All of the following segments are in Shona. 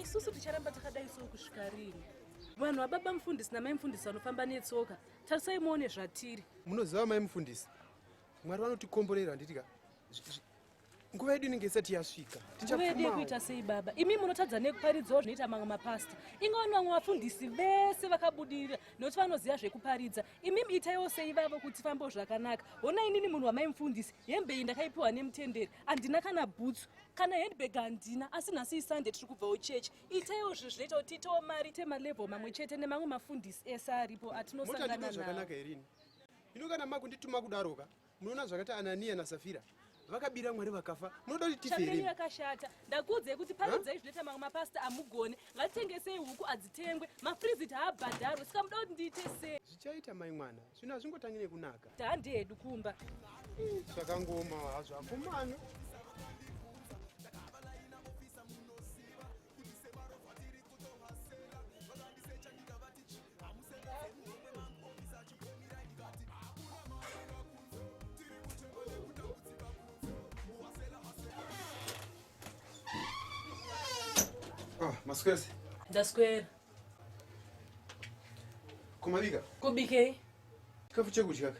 isusu ticharamba takadai so kusvika rini vanhu vababa mufundisi namai mufundisi vanofamba netsoka tarisai muone zvatiri munoziva mai mufundisi mwari vanotikomborera handiti ka nguva yedu inenge isati yasvika nguva yedu yekuita sei baba imi munotadza nekuparidzao zvinoita mamwe mapasta ingawani vamwe vafundisi vese vakabudirira nokuti vanoziva zvekuparidza imi itaiwo sei vavo kuti fambo zvakanaka hona inini munhu wamaimufundisi hembe iyi ndakaipiwa nemutenderi handina kana bhutsu kana handbag handina asi nhasi isunday tiri kubvawo chechi itaiwo zvinhu zvinoita kuti tiitawo mari temalevel mamwe chete nemamwe mafundisi ese aripo atinosangana nao ino kana makundituma kudaroka Munoona zvakaita Anania naSafira vakabira mwari vakafa munoda kuti tifere yakashata ndakuudzai kuti panodzai zvinoita mamwe mapasita amugone ngatitengesei huku adzitengwe mafrizit haabhadharwe saka muda kuti ndiite sei zvichaita mai mwana zvino hazvingotangi nekunaka tandi hedu kumba zvakangoma hazvo akomana Ah, maswezi ndaswera kumabika kubikei chikafu chekudya ka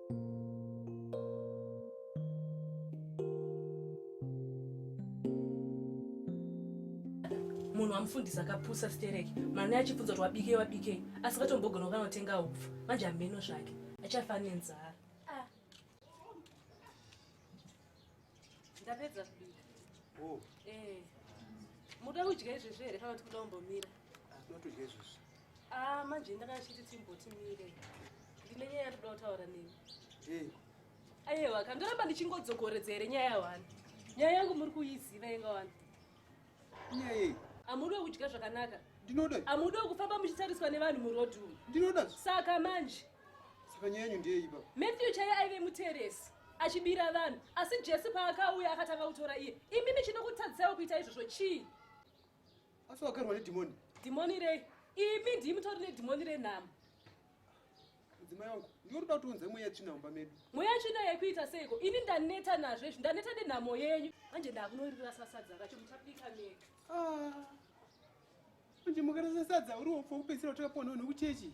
munhu amufundisa akapusa stereki mwana achibvunza kuti wabikei wabikei asi katombogona kukanotenga upfu manje hameno zvake achafa nenzara ndapedza kubika oh. eh. muda kudya izvezvi here kana kuti kuda kumbomira ndotodya ah, izvezvi ah, manje ndakachiti timbotimire ndine nyaya yatoda kutaura nemi ayewa ka ndoramba ndichingodzokoredza here nyaya yawani nyaya yangu muri kuiziva yenga wani nyaya amudi wekudya zvakanaka ndinoda amudi wekufamba muchitariswa nevanhu muroad umu ndinoda saka manje saka nyaya yanyu ndeyeipa matthew chaive aive muteresi achibira vanhu asi jesu paakauya akatanga kutora iye imimi chinokutadzisaiwo kuita izvozvo chii asi wakarwa nedhimoni dhimoni rei imi ndii mutori nedhimoni renhamo mudzimai wangu ndiwo ruda kuti unze mweya tsvina mumba medu mweya tsvina yekuita seiko ini ndaneta nazvo izvi ndaneta nenhamo yenyu manje ndakunoririra sasadza racho muchapika mega ah. manje mukarasa sadza uriwo pokupedzisira utakaponawo nekuchechi